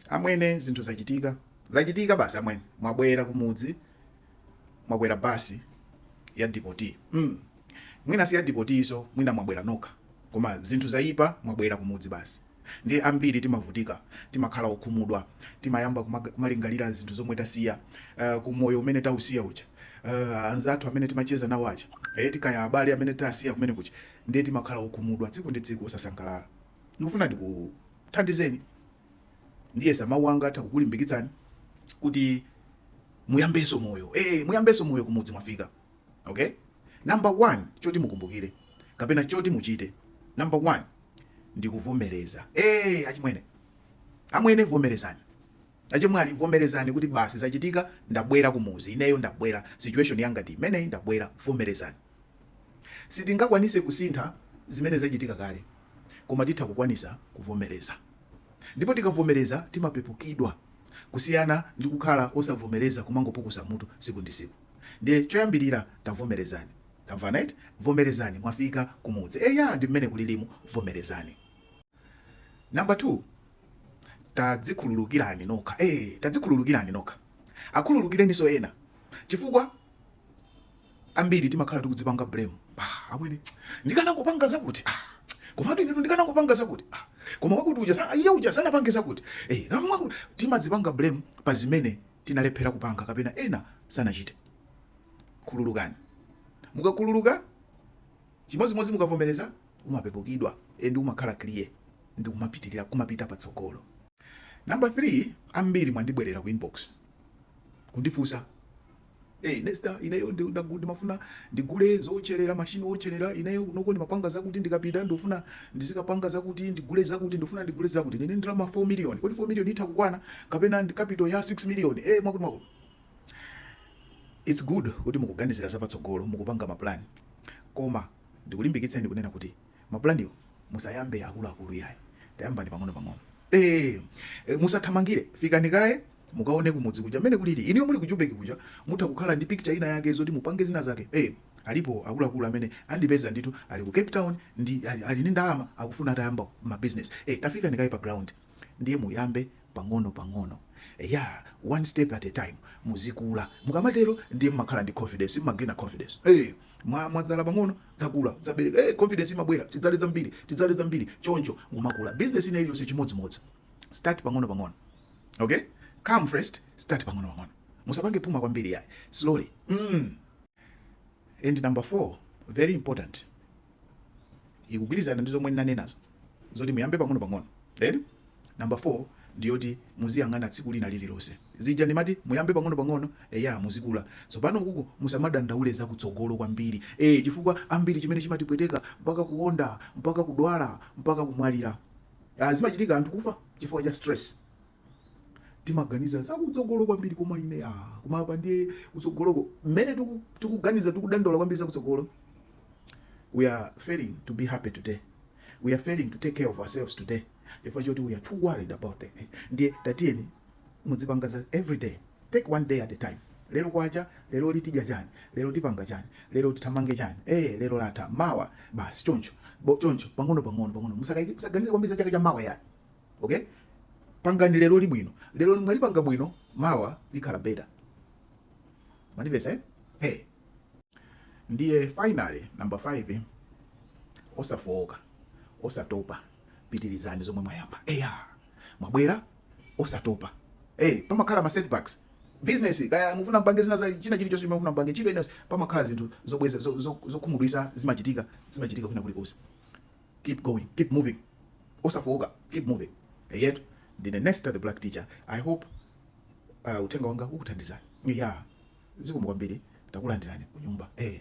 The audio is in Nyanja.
Amwene zinthu zachitika zachitika basi amwene mwabwera kumudzi mwabwera basi ya dipoti mm. mwina si ya dipotiso mwina mwabwera nokha koma zinthu zayipa mwabwera kumudzi basi ndi ambiri timavutika timakhala okhumudwa timayamba kumaga- kumalingalira zinthu zomwe tasiya uh, ku moyo umene tausiya uja uh, anzathu amene timacheza nawo aja eh, tikaya abale amene tasiya kumene kuja ndiye timakhala okhumudwa tsiku ndi tsiku osasangalala ndikufuna ndiku Thandizeni. Ndiyesa mawu anga atha kukulimbikitsani kuti muyambenso moyo. Eh, muyambenso moyo kumudzi mwafika. Okay? Number 1 choti mukumbukire kapena choti muchite. Number 1 ndikuvomereza. Eh, achimwene. Amwene vomerezani. Achimwali vomerezani kuti basi zachitika ndabwera kumuzi. Ineyo ndabwera. Situation yanga ndi imeneyi ndabwera vomerezani. Sitingakwanise kusintha zimene zacitika kale, koma titha kukwanisa kuvomeleza. Ndipo tikavomeleza timapepukidwa kusiyana ndi kukhala osavomeleza kumangopukusa mutu siku ndi siku. Ndiye coyambilira tavomelezani. Tamvana eti? Vomelezani mwafika kumudzi. Eya ndi mmene kulilimu vomelezani. Number 2, Tadzikhululukilani nokha. Eee tadzikhululukilani nokha. Akhululukileniso ena. Cifukwa. ambiri timakhala tikudzipanga blame ah, amwene ndikanangopanga zakuti ah, komatu inetu ndikanangopanga zakuti ah, koma wakuti uja sa- iye uja sanapange zakuti eh, namwa- timazipanga blame pa zimene tinalephera kupanga kapena ena sanachite khululukani mukakhululuka chimodzimodzi mukavomereza umapepukidwa endi umakhala clear ndi kumapitirira kumapita patsogolo namba 3 ambiri mwandibwerera ku inbox kundifunsa Hey Nesta ineyo ndimafuna ndigule zotcherera machine otcherera ineyo kunoko ndimapanga zakuti ndikapita ndikufuna ndizikapanga zakuti ndigule zakuti ndikufuna ndigule zakuti ndili ndi ndalama 4 million kodi 4 million itha kukwana kapena ndi capital ya 6 million eh hey, mwakuti mwakuti it's good kuti mukuganizira zapatsogolo mukupanga mapulani koma ndikulimbikitseni kunena kuti Mapulaniwo musayambe akuluakulu iyayi, tayambani pang'onopang'ono. Eee! Musathamangire, fikani kaye mukaone kumudzi kuja mmene kulili. Inuyo muli ku Jubeki kuja mutha kukhala ndi picture inayake zoti mupange zinazake. Ee! Alipo akuluakulu amene andipeza ndithu ali ku Cape Town ali ndi ndalama akufuna atayamba ma business. Ee! Tafikani kaye pa ground. ndiye muyambe pang'ono pang'ono eya one step at a time muzikula mukamatero ndiye mmakhala ndi confidence mmagena confidence hey, mwa mwadzala pang'ono zakula zabereka hey, confidence imabwera tidzale zambiri tidzale zambiri choncho mumakula business ina iliyonse chimodzimodzi start pang'ono pang'ono okay come first start pang'ono pang'ono musapange puma kwambiri yayi slowly mm. and number 4 very important ikugwirizana ndi zomwe ndinanenazo zoti muyambe pang'ono pang'ono then number 4 ndiyoti muziyang'ana tsiku lina lililonse zija ndimati muyambe pang'ono pang'ono eya muzikula tsopano kuku musamadandaule za kutsogolo kwambiri e, chifukwa ambiri chimene chimatipweteka mpaka kuonda mpaka kudwala mpaka kumwalira ah, zimachitika anthu kufa chifukwa cha stress timaganiza za kutsogolo kwambiri koma ine a ah, koma apa ndiye kutsogoloko mmene tikuganiza tikudandaula kwambiri za kutsogolo we are failing to be happy today we are failing to take care of ourselves today chifukwa choti we are too worried about it ndiye tatiyeni muzipanga za every day take one day at a time lero kwacha lero lino tidya chani lero tipanga chani lero tithamange chani eh lero latha mawa basi choncho choncho pang'ono pang'ono pang'ono musaganize kwambiri za chaka cha mawa ayi ok pangani lero libwino lero mwalipanga bwino mawa likhala better mwandimvetsa eh? hey. ndiye finally number 5 osafowoka osatopa pitirizani zomwe mwayamba eya mwabwera osatopa hey, eh, pamakhala ma setbacks business kaya mufuna mpange zina za china chilichonse mufuna mpange chibe enosi pamakhala zinthu zobweza zokhumudwitsa zo, zo zimachitika zimachitika kwina kulikonse keep going keep moving osafowoka keep moving eyetu ndine nesta the black teacher i hope uh, uthenga wanga ukuthandizani ya zikomo kwambiri takulandirani kunyumba eh.